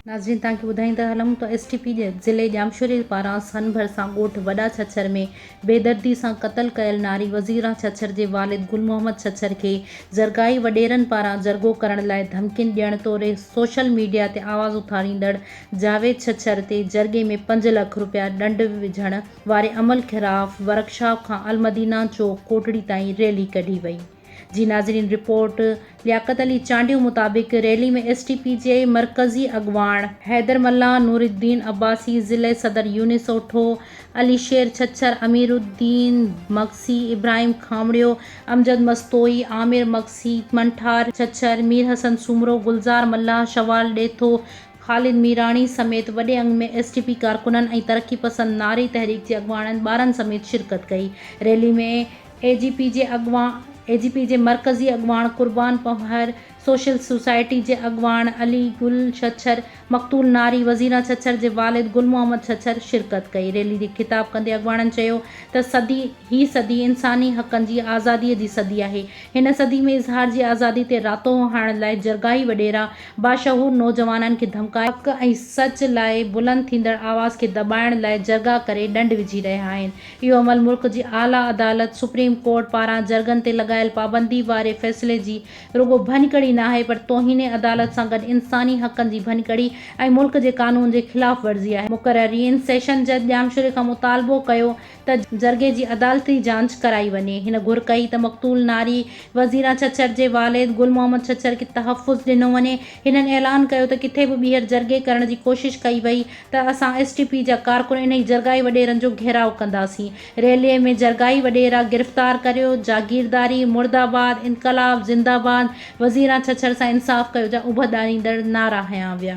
ناظرين توهان کي ٻڌائيندا هلون ته ايس ٽي پي ضلعي ڄامشوري پاران سن ڀرسان ڳوٺ وڏا ڇڇر ۾ بيدردي سان قتل ڪيل ناري وزيران ڇڇر جي والد گل محمد ڇڇر کي زرگاهي وڏيرن پاران جرڳو ڪرڻ لاء ڌمڪين ڏيڻ توڙي سوشل ميڊيا تي آواز اٿاريندڙ جاويد ڇڇر تي جرڳي ۾ پنج لک رپيا ڏنڊ وجهڻ واري عمل خلاف ورڪشاپ کان المدينه چوڪ ڪوٽڙي تائين ريلي ڪڍي وئي جي ناظرين رپورٽ لياقت علي چانڊيو مطابق ريلي ۾ ايس ٽي پي جي مرڪزي اڳواڻ حيدر ملاح نورالدين عباسي ضلعي صدر يونس اوٺو علي شير ڇڇر اميرالدين مگسي ابراهيم کامڙيو امجد مستوئي عامر مگسي منٺار ڇڇر ميرحسن سومرو گلزار ملاح شوال ڏيٿو خالد ميراڻي سميت وڏي انگ ۾ ايس ٽي پي ڪارڪنن ۽ ترقي پسند ناري تحريڪ جي اڳواڻن ٻارن سميت شرڪت ڪئي. ريلي ۾ اي جي پي جي اڳواڻ اي جي پي جي مرڪزي اڳواڻ قربان پنهور، سوشل سوسائٽي جي اڳواڻ علي گل ڇڇر، مقتول ناري وزيرا ڇڇر جي والد گل محمد ڇڇر شرڪت ڪئي. ريلي کي خطاب ڪندي اڳواڻن چيو ته صدي هي صدي انساني حقن جي آزادي جي صدي آهي. هن صدي ۾ اظهار جي آزادي تي راتو هڻڻ لاء جرڳائي وڏيرا باشعور نوجوانن کي ڌمڪائي، حق ۽ سچ لاء بلند ٿيندڙ آواز کي دٻائڻ لاء جرڳا ڪري ڏنڊ وجهي رهيا آهن، اهو عمل ملڪ جي اعليٰ عدالت سپريم ڪورٽ پاران جرڳن تي لڳايل پابندي واري فيصلي جي رڳو ڀڃڪڙي ناهي پر توهين عدالت سان گڏ انساني حقن جي ڀڃڪڙي ۽ ملڪ جي قانون جي خلاف ورزي آهي. مقررين سيشن جج ڄامشوري کان مطالبو ڪيو ته جرڳي جي عدالتي جانچ ڪرائي وڃي. هن گهر ڪئي ته مقتول ناري وزيره ڇڇر جي والد گل محمد ڇڇر کي تحفظ ڏنو وڃي. هنن اعلان ڪيو ته ڪٿي به ٻيهر جرڳي ڪرڻ جي ڪوشش ڪئي وئي ته اسان ايس ٽي پي جا ڪارڪن انهي جرڳائي وڏيرن جو گهيراء ڪنداسين. ريلي ۾ جرڳائي وڏيرا گرفتار ڪريو، جاگيرداري مرد آباد، انقلاب زنده باد، وزيره ڇڇر سان انصاف ڪيو جا اڀ ڏاريندڙ نعرا هنيا ويا.